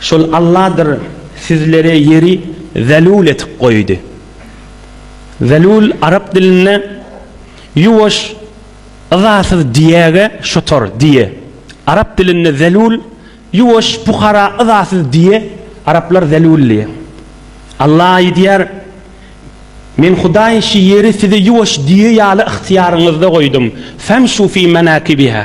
Şol Alladyr sizlere ýeri zelul etip goýdy. Zelul arap dilinde ýuwaş, yzasyz diýäge şotor, diýe. Arap dilinde zelul, ýuwaş, pukara, yzasyz diýe, araplar zelul diýe. Alla aýdýar, Men Hudaý şi ýeri size ýuwaş diýe ýaly ygtyýaryňyzda goýdum, femşu fi menakibiha.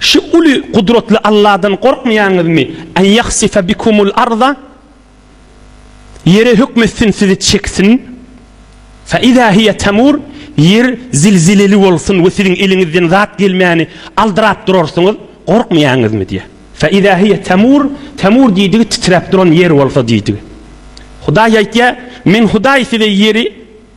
Şu uly gudratly Alladan gorkmaýaňyzmy? En ýahsife bikumul arda, Ýere hökm etsin, sizi çeksin. Fe iza hiýe temur, Ýer zilzileli bolsun we siziň eliňizden zat gelmäni aldyrap durarsyňyz, gorkmaýaňyzmy? diýýär. Fe iza hiýe temur, temur diýdigi titräp duran ýer bolsa diýdigi. Hudaý aýtýar, Men Hudaý size ýeri,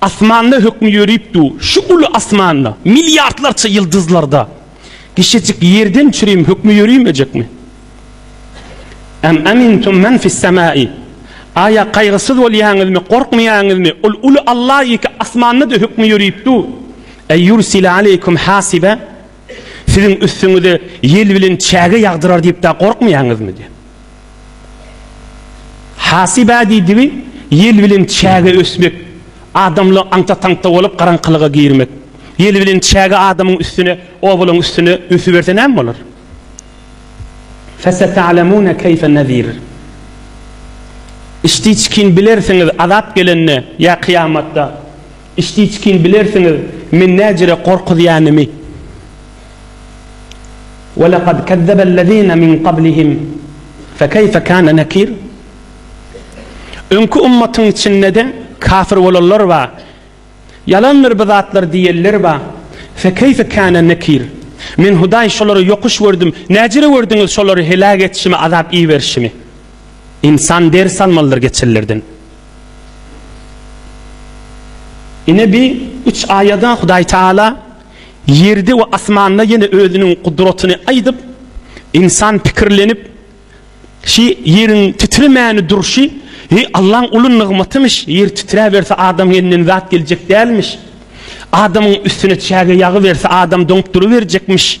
Asmanda hökmi ýörüp dur, şu uly asmanda, milliardlarça ýyldyzlarda kişejik ýerden çürim hökmi ýöremejekmi? Em emintum men fissemai. Aýa kaýgysyz bolýaňyzmy, gorkmaýaňyzmy, ol uly Alla ýeke asmanda-da hökmi ýörüp dur, eýýursile aleýkum hasibe, Siziň üstüňize ýel bilen çäge ýagdyrar diýip-de gorkmaýaňyzmy? diýip. Hasybä diýdigi, ýel bilen çäge ösmek, adamlygy aňta-taňta bolup garaňkylyga girmek. Ýel bilen çäge adamyň üstüne, obalaň üstüne ösüberse näme bolar? Feseta'lemune keýfe nezir. Içdiçkin bilersiňiz azap gelende ýa kyýamatda. Iştiçkin bilersiňiz men näcire gorkuzýanymy. Welekad kezzebellezine min gablihim fekeýfe kana nekir. Öňki ummatyň içindede kafir bolanlar bar. Ýalandyr bu zatlar diýenler bar. Fekeýfe kana nekir. Men Hudaý şolary ýokuş gördüm. Näcire gördüňiz şolary heläk etişimi, azap iberişimi. Ynsan ders almalydyr geçenlerden. Ine bi üç aýada Hudaý Taala ýerde we asmanda ýene özüniň gudratyny aýdyp, ynsan pikirlenip, şi ýeriň titremäni durşy, heý Allaň uly nygmatymyş, ýer titräberse adam elinden zat geljek dälmiş, adamyň üstüne çäge ýagyberse adam doňup duruberjekmiş.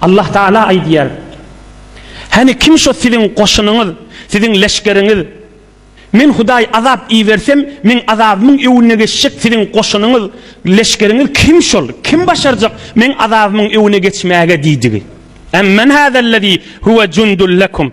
Allah Tagala aýdýar, Hany kim şo siziň goşunyňyz, siziň leşgeriňiz? Men Hudaý azap ibersem, Meň azabymyň öwünine geçjek siziň goşunyňyz, leşgeriňiz kim şol? Kim başarjak Meň azabymyň öwüne geçmäge? diýdigi. Emmen hazellezî huwe jundul lekum.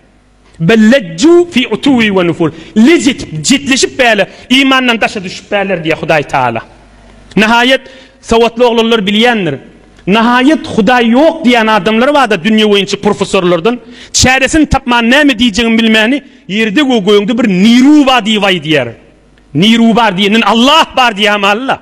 Bel lejju fi utuwi we nufur. Lej etip, jetleşip bäle, imandan daşa düşüp bäler diýýär Hudaý Tagala. Nahaýat, sowatly oglanlar bilýändir. Nahaýat Hudaý ýok diýýän adamlar bar-da dünýe boýunça professorlardan. Çäresini tapman näme diýjegini bilmäni ýerde we gögde bir niruba diýip aýdýar. Niruba diýenden Allah bar diýýärmi Alla?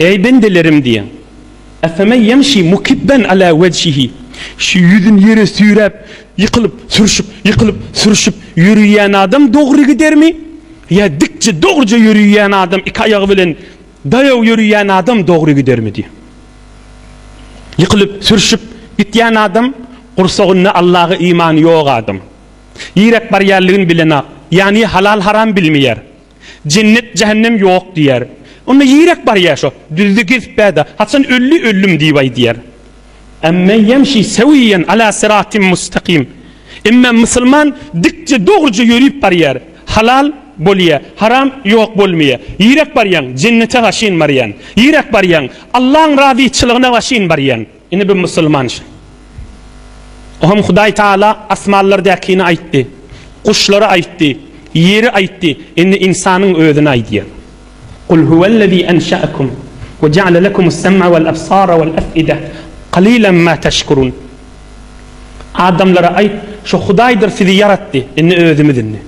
Eý, bendelerim! diýen. Efemen ýemşi mukibben ala wejhihi. Şu ýüzüni ýere süýräp, ýykylyp, sürşüp, ýykylyp, sürşüp ýöriýän adam dogry gidermi? Ýa dikje, dogruja ýöriýän adam, iki aýagy bilen daýaw ýöriýän adam dogry gidermi? diýen. Ýykylyp, sürşüp gitýän adam, gursagynda Allaha imany ýok adam. Niräk barýanlygyny bilenok. Ýany halal-haram bilmeýär. Jennet jähennem ýok diýer. Onda ýirek barýa şo, düzde gezip bäda, haçan ölli öllüm diýip aýdýar. Ammen ýemşi sewiýen ala syratim mustakym. Emma musulman dikje dogryja ýörüp barýar. Halal, bolýa, haram, ýok bolmaýa. Ýirek barýaň, jennete gaşyn barýan. Ýirek barýaň, Allaň razyçylygyna gaşyn barýan. Ine bu musulman şi. Ohem Hudaý Taala asmanlardäkini aýtdy, guşlary aýtdy, ýeri aýtdy, indi ynsanyň özüni aýdýar. Kul huwellezî enşe'ekum we ja'le lekumus sem'a wal ebsara wal ef'ide kalilen ma teşkurun. Adamlara aýt, şo Hudaýdyr sizi ýaratdy, indi özümiz indi.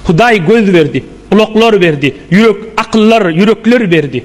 Hudaý göz berdi, gulaklar berdi, ýürek, akyllar, ýürekler berdi.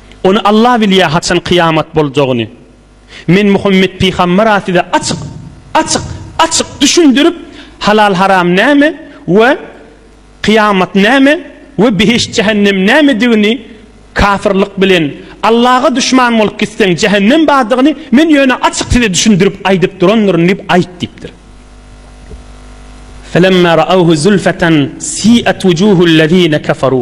Ony Alla bilýär haçan kyýamat boljagyny. Men Muhammet pygambera size açyk, açyk, açyk düşündirip halal haram näme we kyýamat näme we behişt jähennem nämedigini kafyrlyk bilen Allaga duşman bolup gitseň jähennem bardygyny men ýöne açyk size düşündirip aýdyp durandyryn diýip aýt diýipdir. Felemma ra'awhu zulfatan si'at wujuhul lezine keferu.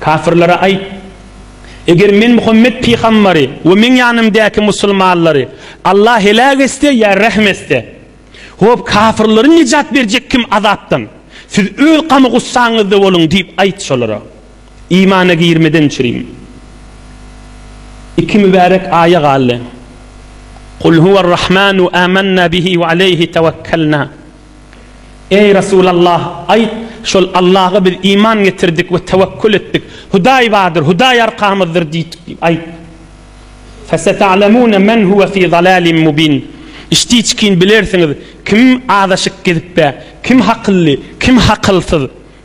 Kafirlere aýt, Eger men Muhammet pygambary we meň ýanymdäki musulmanlary Allah heläk etse ýa rähm etse, hop, kafirleri nejat berjek kim azapdan? Siz öz gam-gussaňyzda boluň diýip aýt şolara. Imana girmeden çüriň. Iki mübärek aýa galdy. Kul huwer-Rahmanu amanna bihi we aleýhi tewekkelna. Eý, Resulallah, aýt, şol Allaha biz iman getirdik we tewekül etdik. Hudaý bardyr, Hudaý arkamyzdyr diýdik diýip aýt. Feseta'lemune men huwe fi zalalim mubin. Içdi-içgin bilersiňiz, kim azaşyk gezipde, kim hakylly, kim hakylsyz.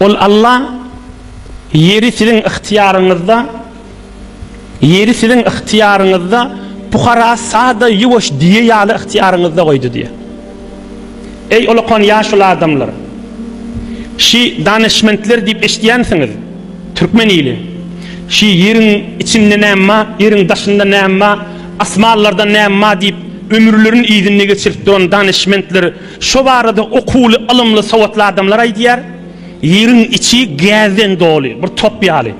Ol Alla Ýeri siziň ygtyýaryňyzda Ýeri siziň ygtyýaryňyzda pukara sada ýuwaş diýe ýaly ygtyýaryňyzda goýdy diýýär. Eý olakan ýaşuly adamlar! Şi danyşmentler diýip eşidýänsiňiz, türkmen ili! Şi ýeriň içinde näme bar, ýeriň daşynda näme bar, asmanlarda näme bar diýip ömürlerini yzynda geçirip duran danyşmentler, Şo barada okuwly, ylymly, sowatly adamlar aýdýar, Ýeriň içi gäzden doly, bir top ýaly.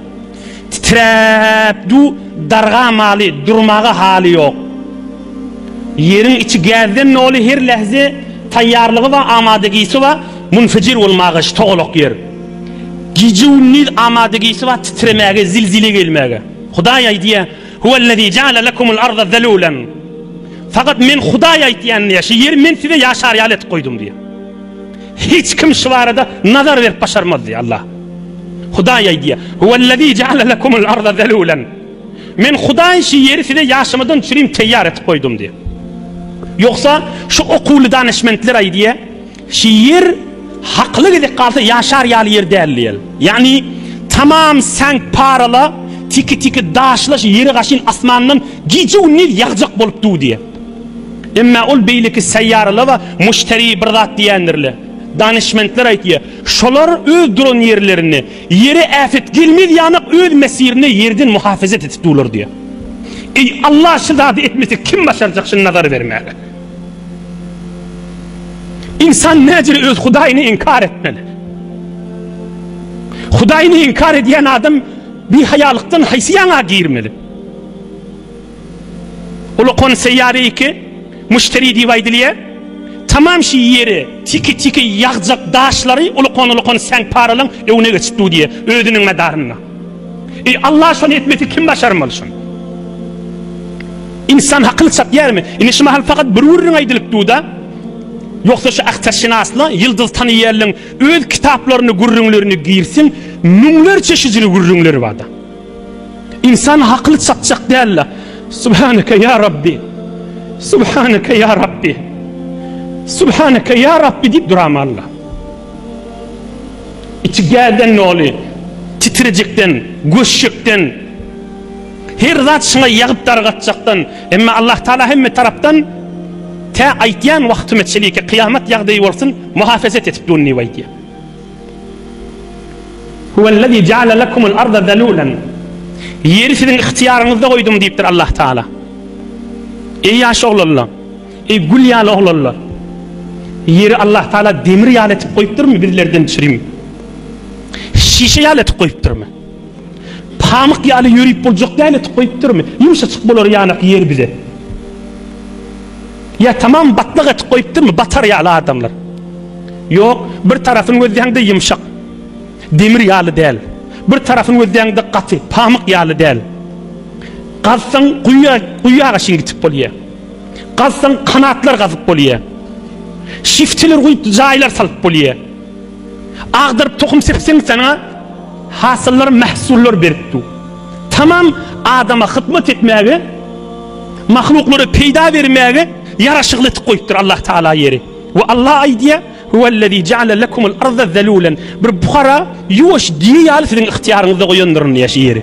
Titräp du dargamaly, durmaga haly ýok. Ýeriň içi gäzden doly, her lähze taýýarlygy bar, amadagisi bar, munfejir bolmaga, ştogalak ýer. Gije-gündiz amadagisi bar titremäge, zilzile gelmäge. Hudaý aýdýar, Huwellezî jaale lekumul arda zelûlen. Fakat men Hudaý aýtýan diýýär, şu ýeri men size ýaşar ýaly etip goýdum diýýär. Hiç kim şu barada nazar berip başarmaz diýýär Allah. Hudaý aýdýar, Huwellezî jaale lekumul arda zelûlen. Men Hudaý şu ýeri size ýaşamadan üçin teýýar etip goýdum diýýär. Ýogsa şu okuwly danyşmentler aýdýar, Şiir, Haklyk edip galsa ýaşar ýaly ýer däl diýýär. Ýagny, tamam säňk parala, tiki-tiki daşlaş ýeri gaşyn asmandan gije-gündiz ýagjak bolup duw diýýär. Emma ol beýleki seýýaralar we muşteri bir zat diýendirler. Danyşmentler aýtýar, şolar öz duran ýerlerinde ýere äpet gelmez ýanak öz mesirinde ýerden muhafezet edip duwlar diýýär. Eý, Alla şu zady etmese kim başarjak şuny nazar bermäge? Insan näcir öz Hudaýyny inkar etmeli? Hudaýyny inkar edýän adam bihaýalykdan haýsy ýaňa girmeli? Ulukon seýýary iki muşteri diýip aýdylýar. Tamam şi ýeri tiki-tiki ýagjak daşlary ulukon-ulukon säň paralyň öňüne geçip dur diýýär özüniň medarynda. Eý Allah şony etmesi kim başarmaly şony. İnsan hakyny çapýarmy? Indi şu mahal fakat bir gürrüň aýdylyp duda. Ýogsa şu ahtarşynasla ýyldyz tanaýarlyň öz kitaplaryny gürrüňlerini girsin, müňlerçe şüjili gürrüňleri barda. İnsan hakyny çapjak dällä. Subhanaka ya Rabbi. Subhanaka ya Rabbi. Subhanaka ya Rabbi diýip duramalla. Içi gäden doly titrejekden, göçjekden, her zat şyňa ýagyp dargatjakdan, emma Allah Taala hemme tarapdan tä aýtýan wagtyma çeliki kyýamat ýagdaýy bolsun muhafezet edip durun diýip aýtýar. Huwellezî jaale lekumul arda zelûlen. Ýeri siziň ygtyýaryňyzda goýdum diýipdir Allah Taala. Eý ýaş oglanlar! Eý gül ýaly oglanlar! Ýeri Allah Taala demir ýaly etip goýupdyrmy bizlerden çirim şişe ýaly etip goýupdyrmy? Pamyk ýaly ýörüp boljak ýaly etip goýupdyrmy? Ýumşajyk bolar ýanak ýer bize. Ýa tamam batlak etip goýupdyrmy batar ýaly adamlar? Ýok, bir tarapyny gözleýäňde ýumşak, demir ýaly däl. Bir tarapyny gözleýäňde gaty, pamyk ýaly däl. Gazsaň guýa, guýaga şeýle gitip bolýar. Gazsaň kanatlar gazyp bolýa. Şifteler guýup jaýlar salyp bolýa. Agdaryp tohum sepseň saňa hasyllar mähsullar berip dur. Tamam adama hyzmat etmäge mahluklara peýda bermäge ýaraşykly etip goýupdyr Allah Taala ýeri. We Allah aýdýa Huwellezî jaale lekumul arda zelûlen bir buhara ýuwaş diýe ýaly siziň ygtyýaryňyzda goýandyryn ýaş ýeri.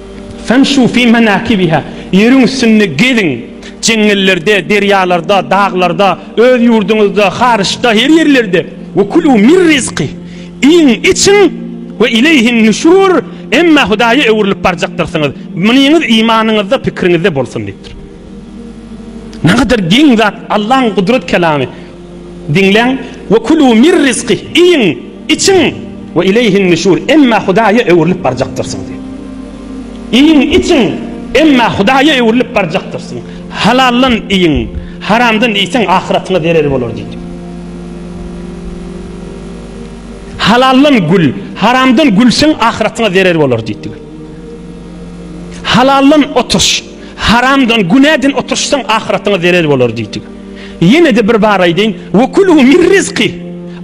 Femşu fi menakibiha, ýeriň üstünde geziň, jeňňellerde, derýalarda, daglarda, öz ýurduňyzda, haryçda, her ýerlerde, we kulu mir rizki, iýiň, içiň, we ileýhin nüşur, emma Hudaýa öwrülip barjakdyrsyňyz, munyňyz imanyňyzda, pikiriňizde bolsun diýipdir. Nähadar geň zat Allaň gudrat kelamy! Diňläň, Ve kulû mir rizkih, iýiň, içiň, ve ileýhin nüşûr, emma Hudaýa öwrülip barjakdyrsyň diýip. Iýiň, içiň, emma Hudaýa öwrülip barjakdyrsyň. Halaldan iýiň, haramdan iýseň ahyratyňa zerer bolar diýdi. Halaldan gül, haramdan gülseň ahyratyňa zerer bolar diýdiler. Halaldan oturyş, haramdan, günäden oturyşsaň ahyratyňa zerer bolar diýdiler. Ýene-de bir bar aýdaýyn, Ve kulû min rizki,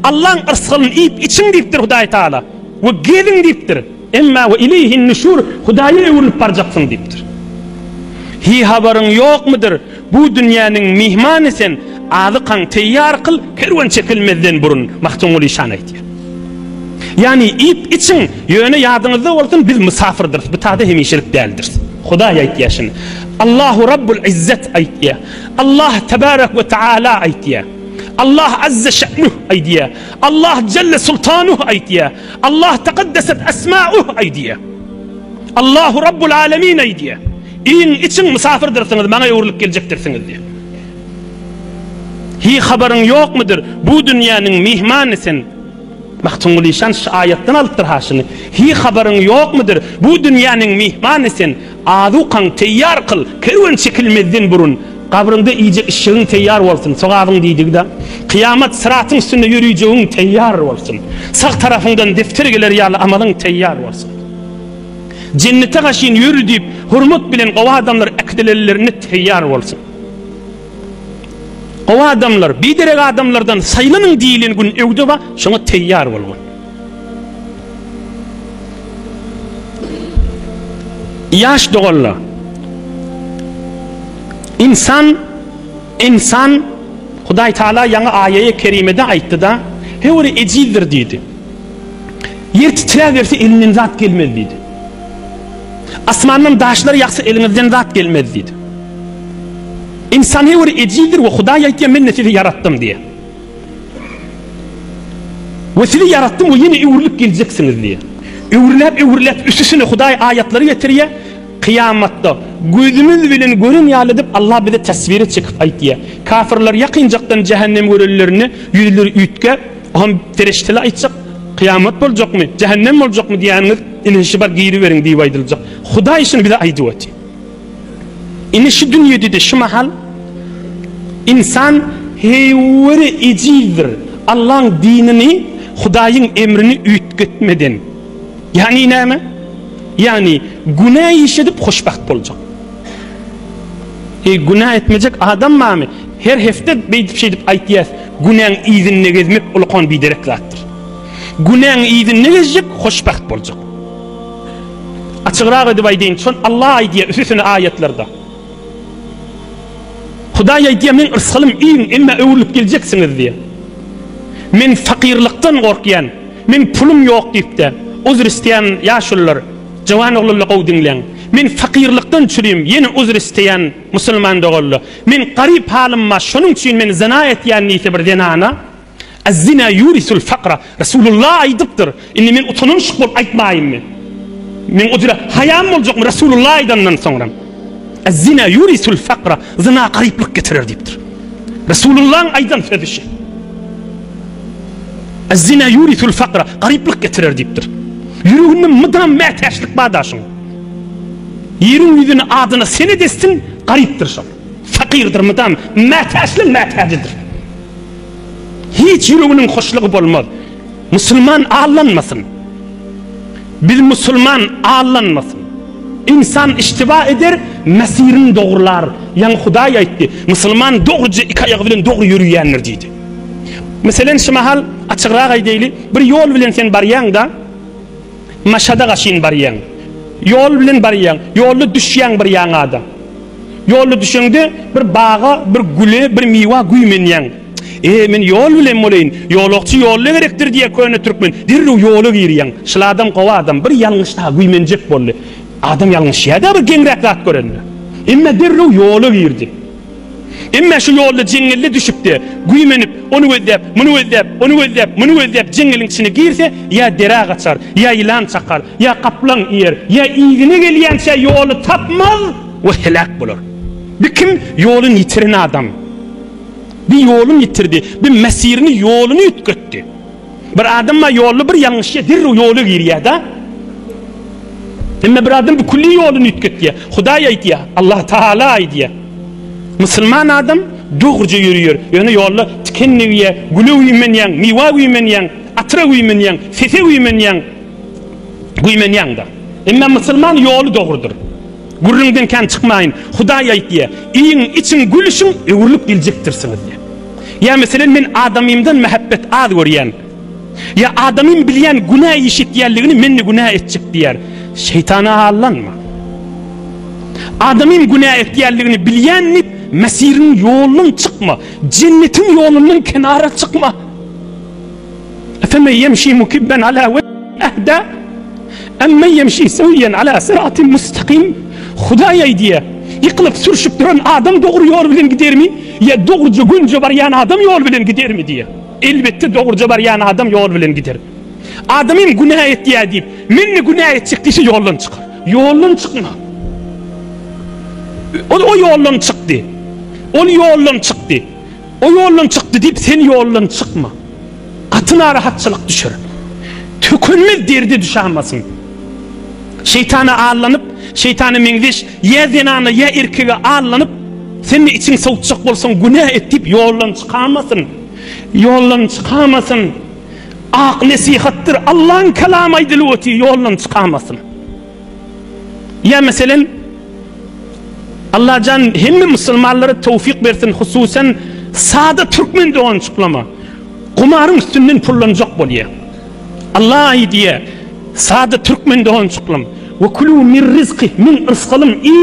Allaň yrsgyndan iýip-içiň diýipdir Hudaý Tagala, we geziň diýipdir, emma ve ileýhin nüşur, Hudaýa öwrülip barjaksyň diýipdir. Hiý habaryň ýokmudyr, bu dünýäniň myhmany sen, azykaň teýýar kyl, kerwen çekilmezden burun, Magtymguly şany aýtýar. Ýagny iýip-içiň, ýöne ýadyňyzda bolsun, biz mysafyrdyrys, bu tagda hemişelik däldiris. Hudaý aýtýar şuny. Allahu Rabbul Yzzet aýtýar. Allah tebarek we taala aýtýar. Allah azze şe'nuh aýdýar. Allah jelle sultanuh aýdýar. Allah tekaddeset esmauh aýdýar. Allahu rabbul alemin aýdýar. Iň içiň mysafyrdyrsynız, maňa öwrülip geljekdirsiňiz diýär. Hi habaryň ýokmudyr? Bu dünýäniň myhmany sen. Magtymguly şan şu aýatdan alypdyr haşyny. Hi habaryň ýokmudyr? Bu dünýäniň myhmany sen. Azukaňy teýýar kyl, kerwen çekilmezden burun, gabryňda iýjek işjegiň teýýar bolsun, sogabyň diýdigi-de, kyýamat syratyň üstünde ýöreýjegiň teýýar bolsun, sag tarapyňdan depder geler ýaly amalyň teýýar bolsun. Jennete gaşyn ýör diýip, hormat bilen gowy adamlar äkidilelilerinde teýýar bolsun. Gowy adamlar, biderek adamlardan saýlanyň diýilen gün öwde bar, şoňa teýýar bolgun. Ýaş doganlar! Ynsan, ynsan, Hudaý Taala ýaňy aýaýe kerimede aýtdy-da, Höwri ejizdir diýdi. Ýer titräberse elinden zat gelmez diýdi. Asmandan daşlar ýagsa eliňizden zat gelmez diýdi. Ynsan höwri ejizdir we Hudaý aýtýar, Men-de sizi ýaratdym diýýär. We sizi ýaratdym we ýene öwrülip geljeksiňiz diýýär. Öwrüläp öwrüläp üsüsine Hudaý aýatlary getirýär, kyýamatda gözümiz bilen gören ýaly edip Allah bize taswire çekip aýt diýýär. Kafirler ýakynjakdan jähennem görenlerinde ýüzleri üýtgäp, Ohm perişdeler aýtjak, Kyýamat boljakmy, jähennem boljakmy diýýäniňiz, ine şibar giriberiň diýip aýdyljak. Hudaý şuny bize aýdyp otyr. Indi şu dünýedede şu mahal ynsan höwri ejizdir, Allaň dinini, Hudaýyň emrini üýtgetmeden. Ýagny näme? Ýagny günä iş edip hoşbagt boljak. Eý günä etmejek adam barmy? Her hepde beýdip şeýdip aýtýas, günäň yzynda gezmek ulukan biderek zatdyr. Günäň yzynda gezjek hoşbagt boljak. Açygrak edip aýdyn şon Allah aýdýa üsüsini aýatlarda. Hudaý aýdýa meň rysgylym iýiň emma öwrülip geljeksiňiz diýe. Men fakyrlykdan gorkýan, men pulum ýok diýipde uzr isteýän ýaşulylar, jowan oglanla gowy diňleň. Men fakyrlykdan çürüýim ýene uzr isteýän musulman doganla. Men garyp halymma şonuň üçin men zyna etýän diýse bir zenana. Ez-zina ýurisul fakra, Resulullah aýdypdyr, indi men utananyşyk bolup aýtmaýynmy? Meň o dire haýam boljakmy Resulullah aýdandan soňram? Ez-zina ýurisul fakra, Zyna garyplyk getirer diýipdir. Resulullahyň aýdan sözi şi. Ez-zina ýurisul fakra, garyplyk getirer diýipdir. Ýüreginde mydam mätäçlik bar daşyň. Ýeriň ýüzüni adyna senet etsin, garypdyr şol. Fakyrdyr mydam, mätäçligiň mätäjidir. Hiç ýüreginiň hoşlugy bolmaz. Musulman allanmasyn. Biz musulman allanmasyn. Ynsan iştiba eder, mesirini dogrular. Ýaňy Hudaý aýtdy, Musulman dogruja iki aýagy bilen dogry ýöriýändir diýdi. Meselem, şu mahal açygrak aýdaýly, bir ýol bilen sen barýaň-da, Maşada gaşyn barýaň. Ýol bilen barýaň. Ýolda düşýäň bir ýaňada. Ýolda düşeňde bir baga, bir güle, bir miwa güýmenýäň. E, men ýol bilen bolaýyn. Ýolagçy ýolda gerekdir diýýär köne türkmen. Derrew ýola girýäň. Şyl adam gowy adam. Bir ýalňyş daha güýmenjek boldy. Adam ýalňyşýar-da bir geňräk zat görende. Emma derrew ýola girdi. Emma şu ýolda jeňňelle düşüp-de, güýmenip, ony gözläp, muny gözläp, ony gözläp, muny gözläp jeňňeliň içine girse, ýa derä gaçar, ýa ýylan çakar, ýa gaplaň iýer, ýa yzyna gelýänçä ýoly tapmaz we heläk bolar. Bi kim? Ýoluny ýitiren adam. Bi ýoluny ýitirdi, bi mesirini, ýoluny üýtgetdi. Bir adamma ýolda bir ýalňyşýa derrew ýola girýäda. Emme bir adam bu külli ýoluny üýtgetýä. Hudaý aýtýa, Allah Taala aýdýa. Musulman adam dogruja ýörýär. Ýöne ýolda tiken degýä, güle güýmenýäň, miwa güýmenýäň, atyra güýmenýäň, sese güýmenýäň. Güýmenýäňda. Emme musulman ýoly dogrudyr. Gürrüňden kän çykmaýyn, Hudaý aýt, ýa iýiň, içiň, gülüşiň, öwrülip geljekdirsiňiz, ýa. Ýa meselem, men adamymdan mähebbet az görýän. Ýa adamym bilýän günä iş etýänligini men-de günä etjek diýýär. Şeýtana aldanma. Adamym günä etýänligini bilýän diýip, Mesihiniň ýolundan çykma, Jennetiň ýolundan kenara çykma. Efemen ýemşi mukibben ala we ehda emmen ýemşi sewýen ala syratim mustakym Hudaý aýdýa, ýykylyp sürşüp duran adam dogry ýol bilen gidermi ýa dogruja gönje barýan adam ýol bilen gidermi diýýä. Elbetde dogruja barýan adam ýol bilen gider. Adam hem günä etýä diýip, men-de günä etjek diýse ýoldan çykar. Ýoldan çykma. Ol o ýoldan çykdy. Ol ýoldan çykdy. O ýoldan çykdy diýip, sen ýoldan çykma. Gaty narahatçylyk düşer. Tükenmez derde düşämasyň. Şeýtana allanyp, şeýtana meňzeş ýa zenana ýa erkege allanyp, sen-de içiň sowutjak bolsaň, günä et diýip, ýoldan çykamasyn. Ýoldan çykamasyn. Ak nesihatdyr. Allaň kalamy aýdylyp otyr, ýoldan çykamasyn. Ýa meselem, Allajan hemme musulmanlara towfyk bersin hususan sada türkmen dogançyklama gumaryň üstünden pullanjak bolýa. Alla aýdýa sada türkmen dogançyklam we kulu mir rizki min yrskalym i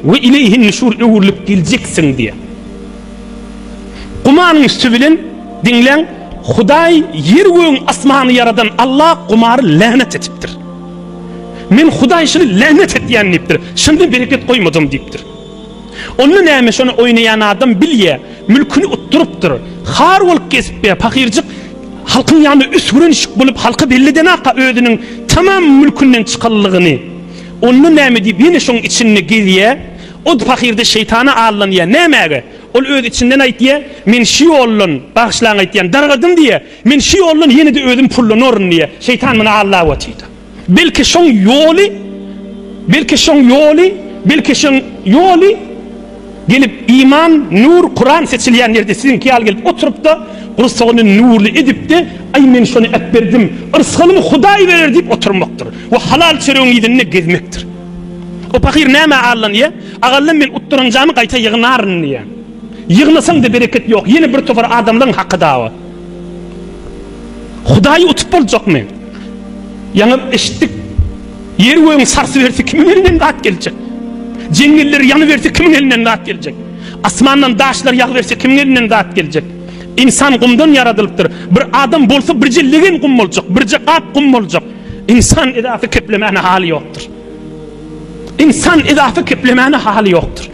we ileýhin nüşur öwrülip geljeksiň diýa. Gumaryň üsti bilen diňläň hudaý ýer gögüň asmany ýaradan Alla gumary länet etipdir. Men Hudaý şuny länet etýän diýipdir. Şunda bereket goýmadym diýipdir. Onda näme şony oýnaýan adam bilýä, mülküni utdurypdyr. Har bolup gezip be, pahyrjyk halkyň ýanyna üsgürenişik bolup halka belledenaka özüniň tamam mülkünden çykanlygyny. Onda näme diýip ýene şoň içinde gezýä. O pahyrda şeýtana aldanýa. Nämäge? Ol öz içinden aýtýa, men şu ýoldan, bagyşlaň aýtýan, dargadym diýýä. Men şu ýoldan ýene-de özüm pullanaryn diýýär. Şeýtan muny aldap otyrdy. Belki şoň ýoly, belki şoň ýoly, belki şoň ýoly gelip iman, nur, Kuran seçilýän ýerde siziňki ýaly gelip oturyp-da, gursagyny nurly edip-de, Aý, men şony äpberdim, yrsgalymy Hudaý berer diýip oturmakdyr we halal çöregiň yzynda gezmekdir. O pahyr nämä aldanýar? Agallam men utduranjamy gaýta ýygnaryn diýýär. Ýygnasaň-da bereket ýok, ýene bir topar adamlaryň haky dawa. Hudaýy utup boljakmy? Ýaňy eşitdik. Ýer-gögüň sarsy berse kimiň elinden zat geljek? Jeňňeller ýany berse kimiň elinden zat geljek? Asmandan daşlar ýagy berse kimiň elinden zat geljek? Ynsan gumdan ýaradylypdyr. Bir adam bolsa birje legen gum boljak, birje gap gum boljak. Ynsan edasy keplemäne haly ýokdur. Ynsan edasy keplemäne haly ýokdur.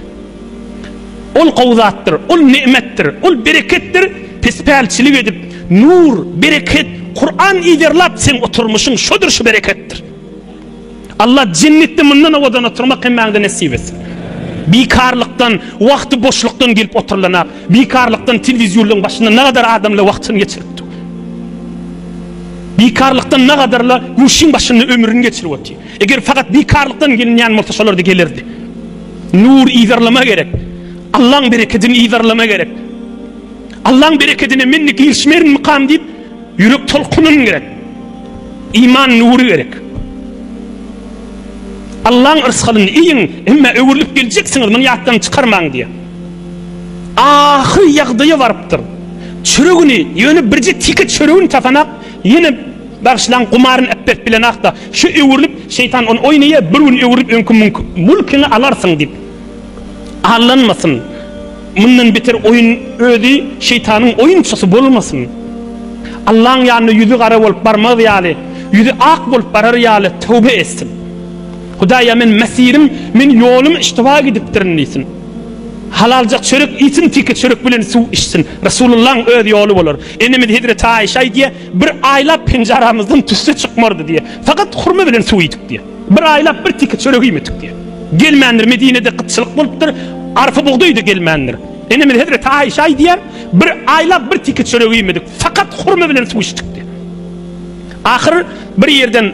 Ol gowy zatdyr, ol ne'metdir, ol bereketdir, pespälçilik edip, nur, bereket, Kuran yzarlap seň oturmyşyň şodur şu bereketdir. Allah jennetde mundan owadan oturmak hemmäňde nesip etsin. Bikarlykdan, wagty boşlukdan gelip oturylana, bikarlykdan telewizýonlaryň başynda nagadar adamlar wagtyny geçiripdi. Bikarlykdan nagadarla guşyň başynda ömrüni geçirip otyr. Eger fakat bikarlykdan gelinýän bolsa şolarda gelerdi. Nur yzarlama gerek. Allaň berekedini yzarlama gerek. Allaň berekedine men-de girişmerinmikam diýip ýürek tolkunyn gerek. Iman nury gerek. Allaň yrsgalyny iýiň, emma öwrülip geljeksiňiz, muny ýatdan çykarmaň diýýär. Ahyr ýagdaýa barypdyr. Çöregini, ýöne birje teke çöregini tapanak, Ýene Bagyşlaň gumaryn epbet bilen akda. Şu öwrülip şeýtan ony oýnaýa bir gün öwrülip öňki mülkiňi alarsyň diýip. Allanmasyn. Mundan beter oýun özi şeýtanyň oýunçysy bolmasyn. Allaň ýanyna ýüzi gara bolup barmaz ýaly, ýüzi ak bolup barar ýaly töwbe etsin. Hudaý ýa men mesirim, men ýolum iştiba gidipdirin diýsin. Halaljak çörek iýsin teke çörek bilen suw içsin. Resulullaň öz ýoly bolar. Enemiz hezreti Aişe aýdýar, Bir aýlap penjaramyzdan tüsse çykmardy diýýär. Fakat hurma bilen suw iýdik diýýär. Bir aýlap bir tiki çörek iýmedik diýýär. Gelmändir, Medinede gytçylyk bolupdyr, arpa bugdaý-da gelmändir. Enemiz hezreti Aişe aýdýar, Bir aýlap bir tiki çörek iýmedik, fakat hurma bilen suw içdik diýýär. Ahyr bir ýerden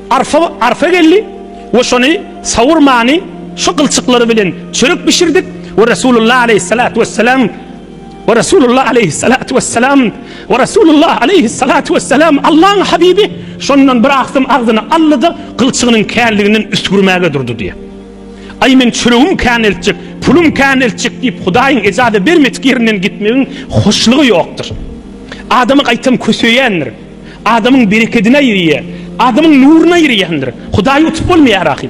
arpa arpa geldi we şony sawurmany şu gylçyklary bilen çörek bişirdik we Resulullah aleýhissalatu wesselam We Resulullah aleýhissalatu wessalam, we Resulullah aleýhissalatu wessalam, Allaň Habibi, şondan bir agsam agzyny aldy-da, gylçygynyň känliginden üsgürmäge durdy diýýär. Aý, men çöregim kän eltjek, pulum kän eltjek diýip, Hudaýyň ejaza bermedik ýerinden gitmegiň hoşlugy ýokdur. Adamy gaýtam köseýändir. Adamyň berekedine ýyrýar. Adamyň nuryna ýyrýandyr. Hudaýy utup bolmaýar ahyr.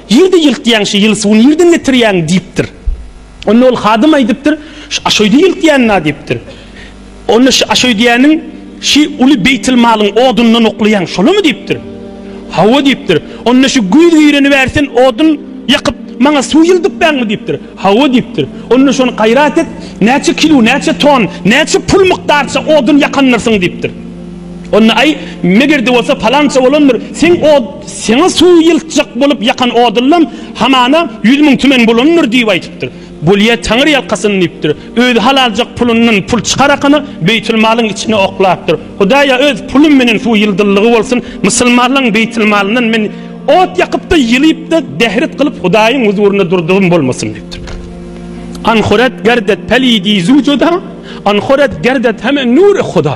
Ýerde ýylkýaňşy, ýyl suwy nirden getirýäň? diýipdir. Onda ol hadym aýdypdyr, Şu aşöýde ýylkýan-a diýipdir. Onda şu aşöýdäniň şi uly beýtilmalyň odundan oklaýaň, şolamy? diýipdir. Hawa diýipdir. Onda şu güýz gireni bäri sen odun ýakyp, maňa suw ýyldypbaňmy? diýipdir. Hawa diýipdir. Onda şony gaýrat et, näçe kilo, näçe ton, näçe pul mukdarça odun ýakandyrsyň? diýipdir. Onda, Aý, meger-de bolsa palança bolandyr, seň o seňe suw ýyltjak bolup ýakan oduňam hamana ýüz müň tümen bolandyr diýip aýdypdyr. Bolýa, taňyrýalkasyn diýipdir. Özi halaljak pulundan pul çykarakana, beýtilmalyň içine oklapdyr. Hudaýa öz pulum menen suw ýyldyldygy bolsun, musulmanlaryň beýtilmalyndan men ot ýakyp-da, ýylyp-da, dehret kylyp Hudaýyň huzurynda durdugym bolmasyn diýipdir. Anhorat gerdet pelidi zu cuda, anhorat gerdet heme nure huda.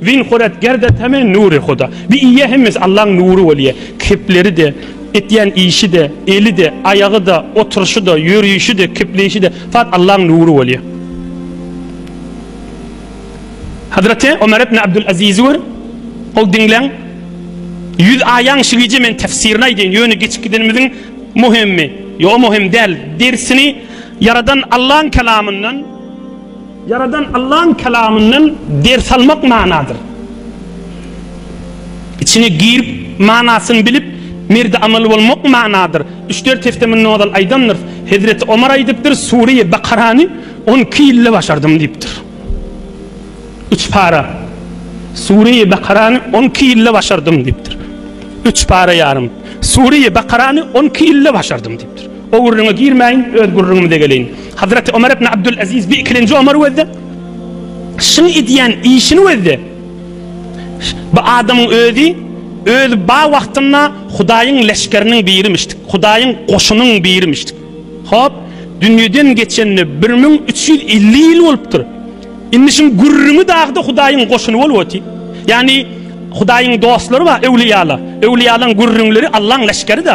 Win Hurat Gerda Tame Nuri Huda. Bi iýe hemmesi Allaň nury bolýa. Kepleri-de, etýän işi-de, eli-de, aýagy-da, oturşy-da, ýörüşi-de, kepleýşi-de fat Allaň nury bolýa. Hazreti Omar ibn Abdul Azizi gör, ol diňleň, ýüz aýaň şigije men tefsirini aýdýan, ýöne geçip gidenimiziň muhimmi, ýo muhim däl, dersini ýaradan Allaň kelamyndan, Ýaradan Allaň Kalamyndan ders almak manadyr. Içine girip, manasyny bilip, merdi amaly bolmak manadyr. Üç-dört hepde mundan ozal aýdamdyrys. Hezreti Omar aýdypdyr, Sureýi Bakarany on iki ýylda başardym diýipdir. Üç para. Sureýi Bakarany on iki ýylda başardym diýipdir. Üç para ýarym. Sureýi Bakarany on iki ýylda başardym diýipdir. O gürrüňe girmäýin, öz gürrüňimize geleýin. Hazreti Ömer ibn Abdul Aziz bi ikilenji Ömer wezde. Şyň edýän işini wezde. Bu adamyň özi öz ba wagtynda Hudaýyň leşgeriniň birimişdik. Hudaýyň goşunyň birimişdik. Hop, dünýeden geçenine bir müň üç ýüz elli ýyl bolupdyr. Indi şyň gürrüňi dagda Hudaýyň goşuny bolup otyr. Ýagny Hudaýyň dostlary bar, öwliýalar. Öwliýalaryň gürrüňleri Allaň leşgeri-de.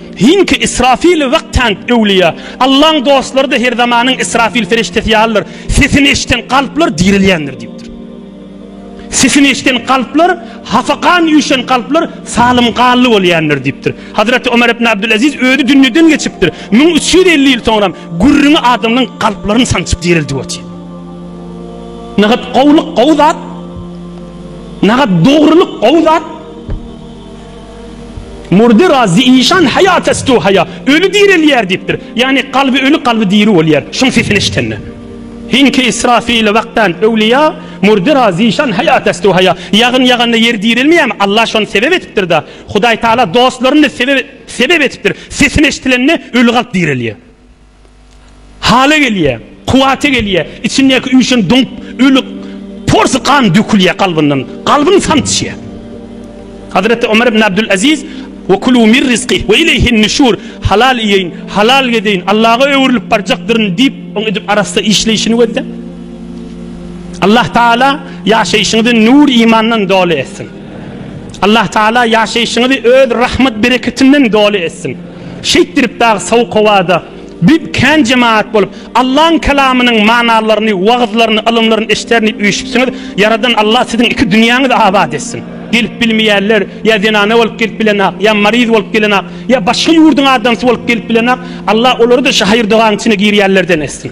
Hinki Israfil wagthank öwlüýä. Allaň dostlary-da her zamanyň Israfil feriştesi ýalydyr. Sesini eşiden kalplar direlýändir diýipdir. Sesini eşiden kalplar, hapa gan üýşen kalplar salym gally bolýändir diýipdir. Hazreti Omer ibn Abdülaziz özi dünýeden geçipdir. Müň üç ýüz elli ýyl soňram gürrüňi adamlaň kalplaryny sançyp direldip otyr. Nagat gowulyk gowy zat. Nagat dogrulyk gowy zat. Murdy ra zi işan haya ta stu haya, Öli direlýär diýipdir. Ýagny kalby öli kalby diri bolýar. Şuň sesini eşidende. Hin ki israfile wagtan öwliýa, Murdy ra zi işan haya ta stu haya, Ýagyn ýaganda ýer direlmeýärmi? Alla şony sebep etipdir da. Hudaý Taala dostlaryny sebep sebep etipdir. Sesini eşidilende öli kalp direlýär. Hala gelýä, kuwwata gelýä, içindäki üýşen doňup ölik porsy gan dökülýä kalbyndan, kalbyn samsyşýa. Hazreti Omar ibn Abdul Aziz, Ve kulu mir rizqih ve ileyhin nüşur, Halal iýeýin, halal gezeýin, Allaga öwrülip barjakdyryn diýip, oň edip arassa işleýşini gözle. Allah Taala ýaşaýşyňyzy nur imandan doly etsin. Allah Taala ýaşaýşyňyzy öz rahmet bereketinden doly etsin. Şeýtdirip dagy sowuk howada büp kän jemagat bolup Allaň kalamynyň manalylaryny, wagyzlaryny, ylymlaryny eşiderin diýip üýşüpsiňiz. Ýaradan Allah siziň iki dünýäňizi abat etsin. Gelip bilmeýänler ýa zenana bolup gelip bilenok, ýa maryz bolup gelenok, ýa başga ýurduň adamsy bolup gelip bilenok. Allah olary-da şu haýyr-dogaň içine girýänlerden etsin.